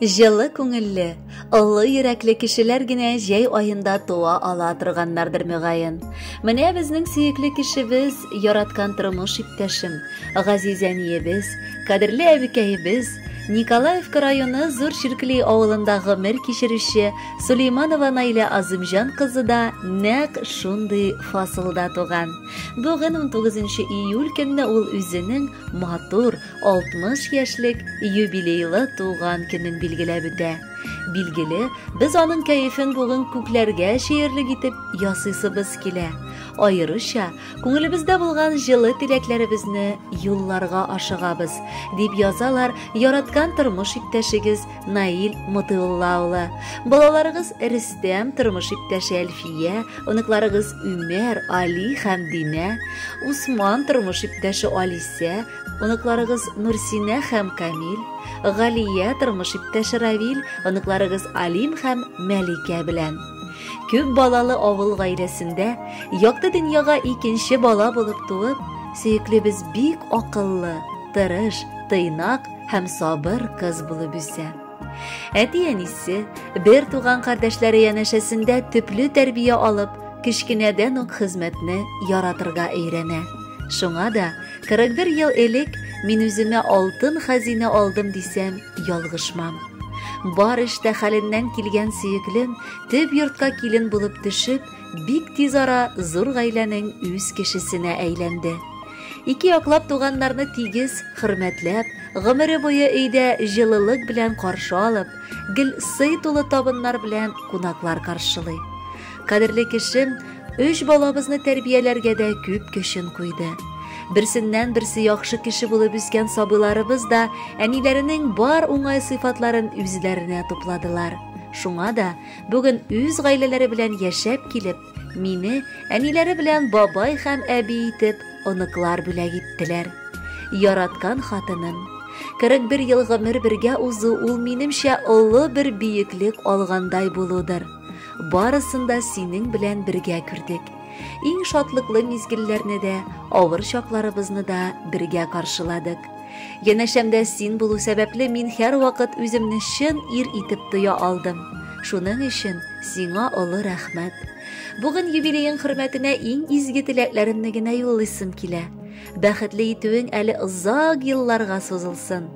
Җылы күңелле, олы йөрәкле кешеләр генә җәй айында туа ала торганнардыр мөгаен. Менә безнең сөекле кешебез, яраткан тормыш иптәшем, газиз әниебез, кадерле әбекәебез, Николаевка районы Зур Чиркли авылында гомер кичерүче Сулейманова Наилә Азымҗан кызы да нәкъ шундый фасылда туган. Бүген 19 июль көнне ул үзенең матур 60 яшьлек юбилейлы туган көнен билгеләп үтә. Билгеле, без аның кәефен бүген күкләргә чөерлек итеп ясыйсыбыз килә. Аеруча күңелебездә булган җылы теләкләребезне юлларга ашыгабыз, дип язалар яраткан тормыш иптәшегез Наил Мотыулла улы, балаларыгыз Рөстәм, тормыш иптәше Әлфия, оныкларыгыз Үмәр, Али һәм Динә, Усман, тормыш иптәше Алисә, оныкларыгыз Нурсинә һәм Камил, Галия, тормыш иптәше Равил, оныкларыгыз Алим һәм Мәликә белән. Күп балалы авыл гаиләсендә якты дөньяга икенче бала булып туып, сөеклебез бик акыллы, тырыш, тыйнак, һәм сабыр кыз булып үсә. Әти-әнисе, бер туган кардәшләре янәшәсендә төпле тәрбия алып, кечкенәдән үк хезмәтне яратырга өйрәнә. Шуңа да 41 ел элек мин үземә алтын хәзинә алдым дисәм, ялгышмам. Бар эштә хәленнән килгән сөеклем төп йортка килен булып төшеп, бик тиз ара зур гаиләнең үз кешесенә әйләнде. Ике яклап туганнарны тигез, хөрмәтләп, гомере буе өйдә җылылык белән каршы алып, гел сый тулы табыннар белән кунаклар каршылый. Кадерле кешем, өч балабызны тәрбияләргә дә күп көчен куйды. Берсеннән берсе яхшы кеше булып үскән сабыйларыбыз да әниләренең бар уңай сыйфатларын үзләренә тупладылар. Шуңа да Бүген үз гаиләләре белән яшәп килеп, мине әниләре белән бабай һәм әби итеп оныклар бүләк иттеләр. Яраткан хатыным, 41 ел гомер бергә узу ул минемчә олы бер биеклек алгандай булудыр. Барысын да синең белән бергә күрдек. Иң шатлыклы мизгелләрне дә, авыр чакларыбызны да бергә каршыладык. Янәшәмдә син булу сәбәпле мин һәрвакыт үземне чын ир итеп тоя алдым. Шуның өчен сиңа олы рәхмәт. Бүген юбилеең хөрмәтенә иң изге теләкләремне генә юллыйсым килә. Бәхетле итүең әле озак елларга сузылсын.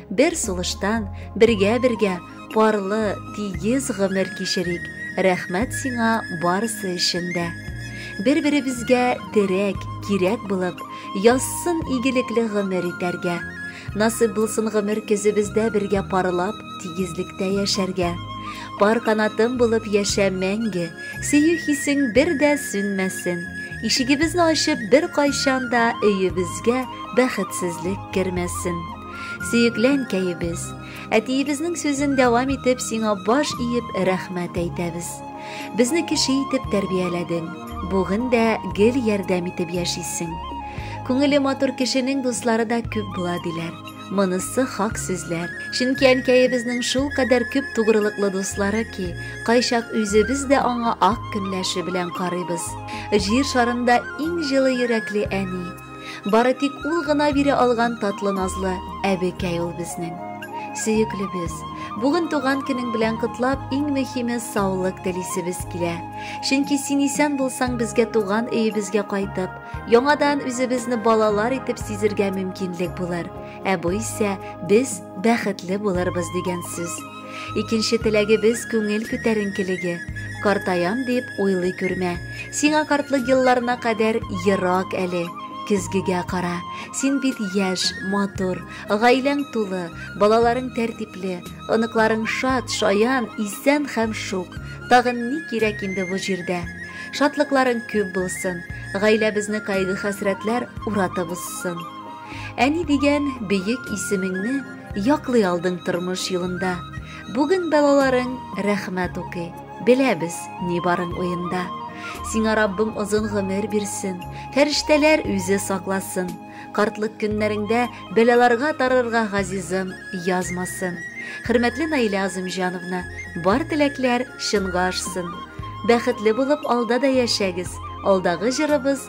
Бер сулыштан, бергә-бергә парлы, тигез гомер кичерик. Рәхмәт сиңа барысы өчен дә. Бер-беребезгә терәк, кирәк булып, язсын игелекле гомер итәргә. Насыйп булсын гомер көзебездә бергә парлап, тигезлектә яшәргә. Пар канатым булып яшә мәңге, сөю хисең бер дә сүнмәсен. Ишегебезне ачып бер кайчан да өебезгә бәхетсезлек кермәсен. Сөекләнкәебез, Әтиебезнең сүзен дәвам итеп, сиңа баш иеп рәхмәт әйтәбез. Безне кеше итеп тәрбияләдең. Бүген дә гел ярдәм итеп яшисең. Күңеле матур кешенең дуслары да күп була диләр. Монысы хак сүзләр. Чөнки әнкәебезнең шул кадәр күп тугрылыклы дуслары ки, кайчак үзебез дә аңа ак көнләше белән карыйбыз. Җир шарында иң җылы йөрәкле әни. Бары тик ул гына бирә алган татлы назлы әбекәй ул безнең. Сөеклебез, бүген туган көнең белән котлап, иң мөһиме саулык телисебез килә. Чөнки син исән булсаң, безгә туган өебезгә кайтып, яңадан үзебезне балалар итеп сизергә мөмкинлек булыр. Ә бу исә без бәхетле булырбыз дигән сүз. Икенче теләгебез күңел күтәренкелеге. Картаям дип уйлый күрмә. Сиңа картлык елларына кадәр ерак әле. Көзгегә кара. Син бит яшь, матур, гаиләң тулы, балаларың тәртипле, оныкларың шат, шаян, исән һәм шук. Тагын ни кирәк инде бу җирдә? Шатлыкларың күп булсын. Гаиләбезне кайгы-хәсрәтләр уратып узсын. Әни дигән бөек исемеңне яклый алдың тормыш юлында. Бүген балаларың рәхмәт укый. Беләбез, ни барың уенда. Сиңа Раббым озын гомер бирсен, фәрештәләр үзе сакласын. Картлык көннәреңдә бәлаларга тарырга газизым язмасын. Хөрмәтле Наилә Азымҗановна, бар теләкләр чынга ашсын. Бәхетле булып алда да яшәгез. Алдагы җырыбыз